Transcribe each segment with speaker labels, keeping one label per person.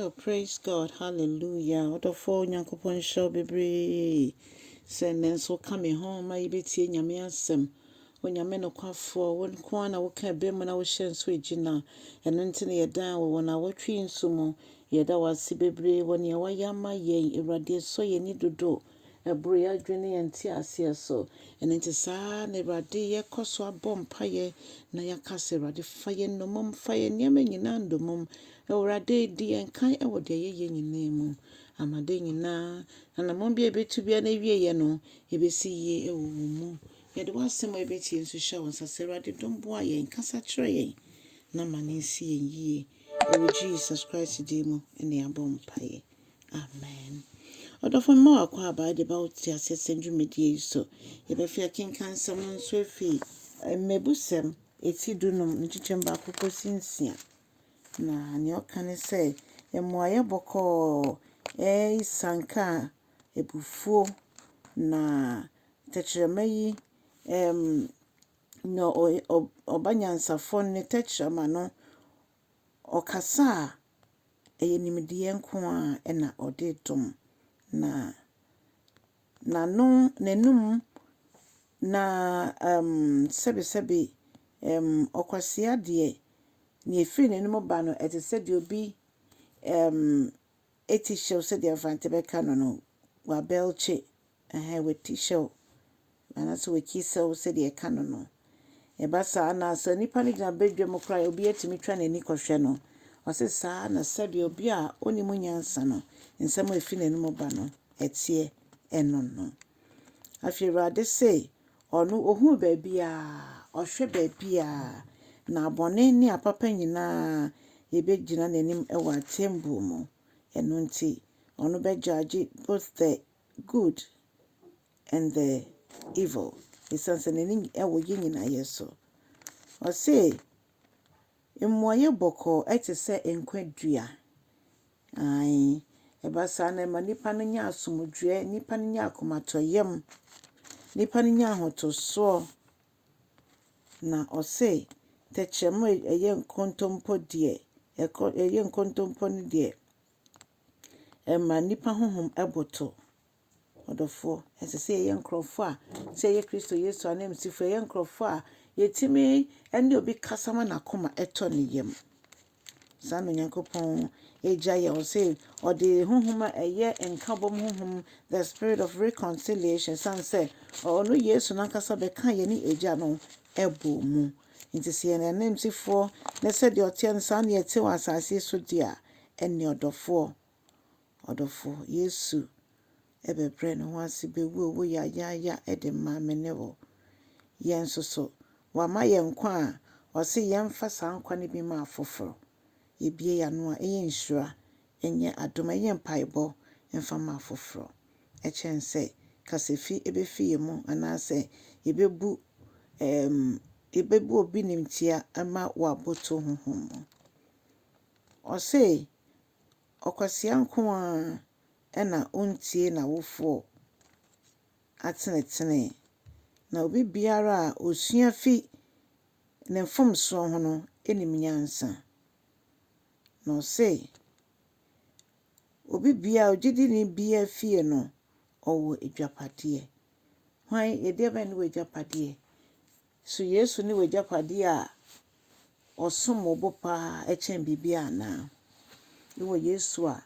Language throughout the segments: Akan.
Speaker 1: Oh praise God hallelujah ɔdɔfoɔ Nyankopɔn nhyira wo bebree sɛ nnɛ nso woka me ho ma yɛbɛtie Nyame asɛm Onyame nokwafoɔ wo nko ara na woka ɛbɛ mu na wohyɛ nso ɛgyina ɛno nti na yɛdan wɔ wɔn awɔtwe yi nso mu yɛda wo ase bebree wɔ nea woayɛ ama yɛn Awurade ɛsɔ yɛn ani dodo Ɛboro yɛn adwene ne yɛn nteaseɛ so. Ɛno nti saa ara na Awurade yɛkɔ so abɔ mpaeɛ na yɛaka sɛ, Awurade fa yɛn nnommum, fa yɛn nneɛma nyinaa nnommum. Awurade di yɛn kan wɔ deɛ yɛyɛ nyinaa mu. Ama adeɛ nyinaa, anammɔn biara a yɛbɛtu biara no awieeɛ no, ɛbɛsi yie wɔ wo mu. Yɛde w'asɛm a yɛbɛtie nso hyɛ wo nsa. Sɛ Awurade dom boa yɛn, kasa kyerɛ yɛn na ma no nsi yɛn yie. Ɛwɔ Jesus Christ din mu na yɛabɔ mpaeɛ. Amen. Ɔdɔfo mma w'akwaaba a de ba wo te aseɛ sɛ dwumadie yi so. Yɛbɛfi akenkan nsɛm no nso afi Mmebusɛm eti dunum ne nkyekyɛm baako kɔsi nsia. Na nea ɔka ne sɛ, mmuaeɛ bɔkɔɔ, asianka, abufuo, na tɛkyerɛma yi ɛm, nea ɔba nyansafoɔ no ne tɛkyerɛma no Ɔkasa a, ɛyɛ nimdeɛ nko ara na ɔde dom, na n'ano, n'anum na ɛm sɛbesɛbe ɛm ɔkwasea deɛ, deɛ ɛfiri n'anum ba no ɛte sɛ deɛ obi ɛm. eti hyew sɛdeɛ Mfante bɛka no no, wabelkye, ɛhɛn, wati hyɛw anaasɛ wati sɛw sɛdeɛ ɛka no no. Ɛba saa no a, sɛ nipa no gyina badwam koraa a, obiara tumi twa n'ani kɔhwɛ no. Ɔse saa na sɛdeɛ obi a ɔnnim nyansa no, nsɛm a ɛfiri n'anom ba no, ɛteɛ, ɛno no. Afei Awurade se, Ɔno ɔhunu baabiara, ɔhwɛ baabiara, na bɔne ne apapa nyinaa bɛgyina n'anim wɔ atɛmbuo mu. Ɛno nti, ɔno bɛgyaagye both the good and the evil, ɛsiane sɛ n'ani wɔ yɛn nyinayɛ so. Ɔse, Mmuaeɛ bɔkɔɔ te sɛ nkwa dua. Aane, ɛba saa na ɛma nnipa no nya asomdwoeɛ, nnipa no nya akomatɔyam, nnipa no nya ahotosoɔ. Na ɔse, tɛkyerɛma a ɛyɛ nkontompo deɛ, ɛkɔ ɛyɛ nkontompo no deɛ, ɛma nnipa honhom boto. Ɔdɔfoɔ, ɛsɛ sɛ yɛyɛ nkorɔfoɔ a, sɛ yɛyɛ Kristo Yesu ananmusifoɔ a, yɛyɛ nkorɔfoɔ a yɛtumi ne obi kasa ma n'akoma tɔ ne yam. Saa na Onyankopɔn Agya yɛ, ɔse ɔde honhom a ɛyɛ nkabom honhom, the spirit of reconciliation, ɛsiane sɛ ɔno Yesu no ankasa bɛkaa yɛne Agya no bɔɔ mu. Nti sɛ yɛyɛ n'ananmusifoɔ na sɛdeɛ ɔteɛ no saa na yɛte wɔ asase so deɛ a, ɛnneɛ ɔdɔfoɔ, Ɔdɔfo, Yesu bɛbrɛɛ ne ho ase bewuo wo yayaaya de maa me ne wo. Yɛn nso so, wama yɛn nkwa a ɔse yɛmfa saa nkwa no bi mma afoforo. Yɛbue yɛn ano a, ɛyɛ nhyira, ɛnyɛ adom, ɛyɛ mpaebɔ mfa ma afoforo. Ɛkyɛn sɛ kasafi bɛfi yɛn mu anaasɛ yɛbɛbu ɛɛm yɛbɛbu obi nimtia ma waboto honhom mu. Ɔse, Ɔkwasea nko ara na ɔntie n'awofoɔ atenetene, na obi biara a ɔsua fi ne mfomsoɔ ho no nim nyansa. Na ɔse, obi biara, ogyidini biara fie no, ɔwɔ adwapadeɛ. Hwan, ɛdeɛbɛn ne w'adwapadeɛ? So Yesu ne w'agyapadeɛ a ɔsom bo paa kyɛn biribiara anaa? Wowɔ Yesu a,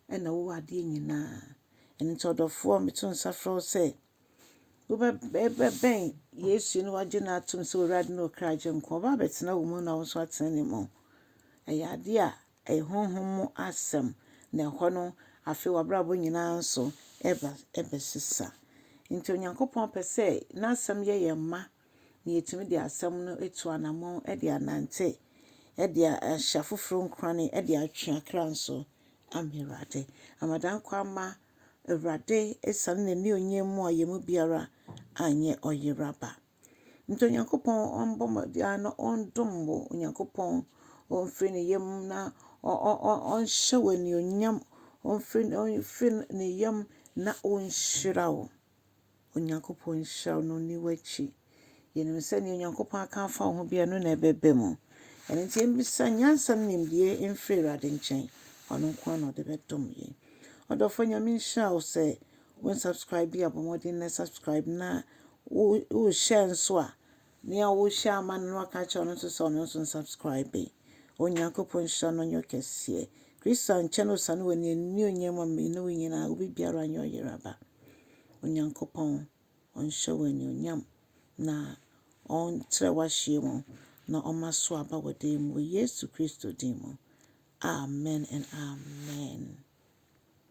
Speaker 1: ɛnna wowɔ adeɛ nyinaa. Ɛno nti ɔdɔfoɔ, meto nsa frɛ wo sɛ wobɛbɛn Yesu na wagye no atom sɛ Awurade ne wo kra Agyenkwa. Ɔba abɛtena wo mu na wo nso atena ne mu. Ɛyɛ adeɛ a Ɛyɛ honhom mu asɛm, na ɛhɔ no, afei w'abrabɔ nyinaa nso ɛba ɛbɛsesa. Nti Onyankopɔn pɛ sɛ n'asɛm yɛ yɛn mma, na yɛtumi de asɛm no atu anamɔn de anante, de ahyɛ afoforɔ nkurane, de atwe akra nso ama Awurade. Amadanko ama Awurade ɛsiane n'anionyam mu a yɛn mu biara anyɛ ɔyera ba. Nti Onyankopɔn ɔmbɔ ma biara na ɔndom wo, Onyankopɔn ɔmfiri ne yam na ɔnhyɛ wo anuonyam, ɔmfiri ne yam na ɔnhyira wo. Onyankopɔn nhyira wo na ɔnni w'akyi. Yɛnim sɛ deɛ Onyankopɔn aka afa wo ho biara no na ɛbɛba mu. Ɛno nti yɛmmisa nyansa ne nimdeɛ mfiri Awurade nkyɛn. Ɔno nko ara na ɔde bɛdom yɛn. Ɔdɔfoɔ Nyame nhyira wo sɛ wo nsubscribe bi a bɔ mmɔden na subscribe na Wo share nso a nea wo share ama no na waka akyerɛ ɔno nso sɛ ɔno nso nsubscribe. Onyankopɔn nhyira no nyɛ kɛseɛ. Kristo ankyɛ no ɔsane wɔ ne anuonyam ma me ne wo nyinaa obi biara nyɛ ɔyeraba. Onyankopɔn ɔnhyɛ wo anuonyam na ɔnkyerɛ w'ahyeɛ mu na ɔma so aba wɔ dan mu wɔ Yesu Kristo din mu. Amen and amen.